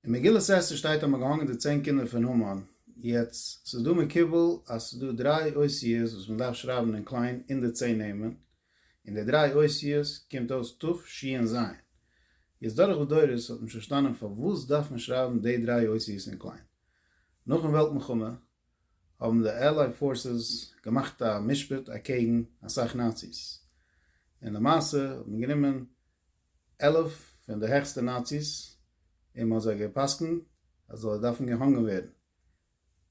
אין מגילת אסתר שטייט אז מען האט געהאנגען די צען קינדער פון המן, יעצט ס'איז דא מקובל אז ס'איז דא דריי אותיות וואס מען דארף שרייבען אין קליין אין די צען נעמען, און די דריי אותיות קומט אויס ת' ש' און ז', יעצט דורך די דורות האט מען שוין פארשטאנען פארוואס דארף מען שרייבען די דריי אותיות אין קליין. נאכן וועלט מלחמה האבן די עלייד פארסעס געמאכט א משפט אקעגן אסאך נאציס, און למעשה האט מען גענומען עלף פון די העכסטע נאציס און מ'האט זיי גע'פסק'נט אז זיי דארפן געהאנגען ווערן.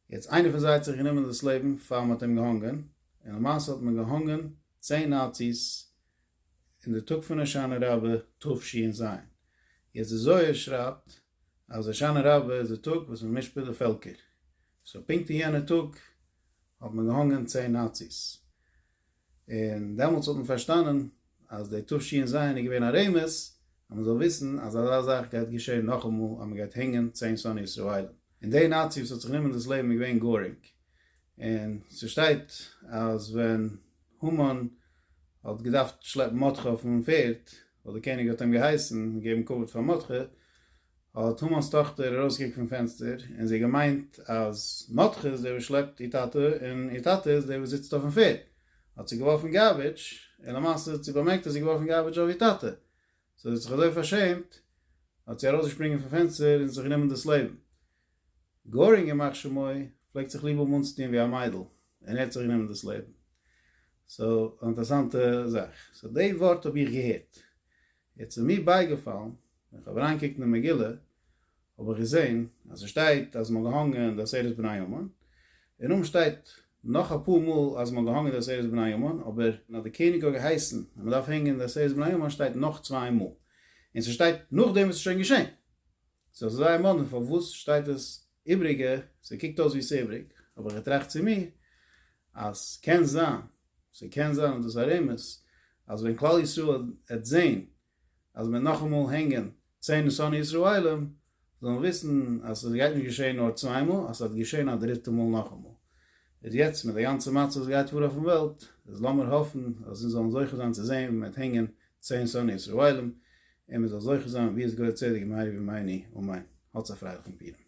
יעצט איינער פון זיי האט זיך גענומען דאס לעבן פאר מ'האט אים געהאנגען, און למעשה האט מען געהאנגען צען נאציס אין די טאג פון הושענא רבה תשי ע ז. יעצט די זוהר שרייבט אז הושענא רבה איז די טאג וואס מ'משפט די פעלקער, סאו פונקט אין יענע טאג האט מען געהאנגען צען נאציס. און דעמאלטס האט מען פארשטאנען אז די תבשי'ן זיין איז געווען א רמז אז מען זאל וויסן אז אזא זאך גייט געשען נאכאמאל אז מען גייט הענגען צען שונאי ישראלים. און די נאצי וואס האט זיך גענומען דאס לעבן איז געווען גארינג. און ס'שטייט אז ווען המן האט געדארפט שלעפן מרדכי אויפן פערד, ווייל די קעניג האט אים געהייסן געבן כבוד פאר מרדכי, האט המן'ס טאכטער ארויסגעקוקט פון פענסטער און זי געמיינט אז מרדכי איז דער וואס שלעפט איר טאטע און איר טאטע איז דער וואס זיצט אויפן פערד, האט זי געווארפן גארביטש און למעשה האט זי באמערקט אז זי געווארפן גארביטש אויף איר טאטע, סאו זי האט זיך אזוי פארשעמט האט זי ארויסגעשפרינגען פון פענסטער און זיך גענומען דאס לעבן. גארינג ימח שמו פלעגט זיך ליב האבן אנצוטון ווי א מיידל און ער האט זיך גענומען דאס לעבן. סאו אן אינטערעסאנטע זאך. סאו די ווארט האב איך געהערט. יעצט איז מיר בייגעפאלן ווען איך האב אריינגעקוקט אין די מגילה האב איך געזען אז עס שטייט אז מען האט געהאנגען די עשרת בני המן, און אויבן שטייט נאך אפאר מאל אז מען האט געהאנגען די עשרת בני המן, אבער אז די קעניג האט געהייסן אז מען דארף הענגען די עשרת בני המן שטייט נאך צוויי מאל, און ס'שטייט נאכדעם וואס ס'איז שוין געשען. סאו ס'איז זייער מאדנע פארוואס שטייט עס איבריגע, ס'קוקט אויס ווי ס'איבריג, האב איך געטראכט צו מיר אז קען זיין ס'קען זיין אז דאס ארום איז אז ווען כלל ישראל העט זעהן אז מ'עט נאכאמאל הענגען צען שונאי ישראלים זאלן וויסן אז ס'גייט נישט געשעהן נאר צוויי מאל אז ס'העט געשעהן א דריטע מאל נאכאמאל. איז יעצט מיט די גאנצע מצב וואס גייט פאר אויפן וועלט איז לאמיר האפן אז אונז זאלן זוכה זיין צו זעהן ווי מ'עט הענגען צען שונאי ישראלים און מ'זאל זוכה זיין ווי עס געהויער צדק מהרי ו מיני ומאין. האטס א פרייליכן פורים.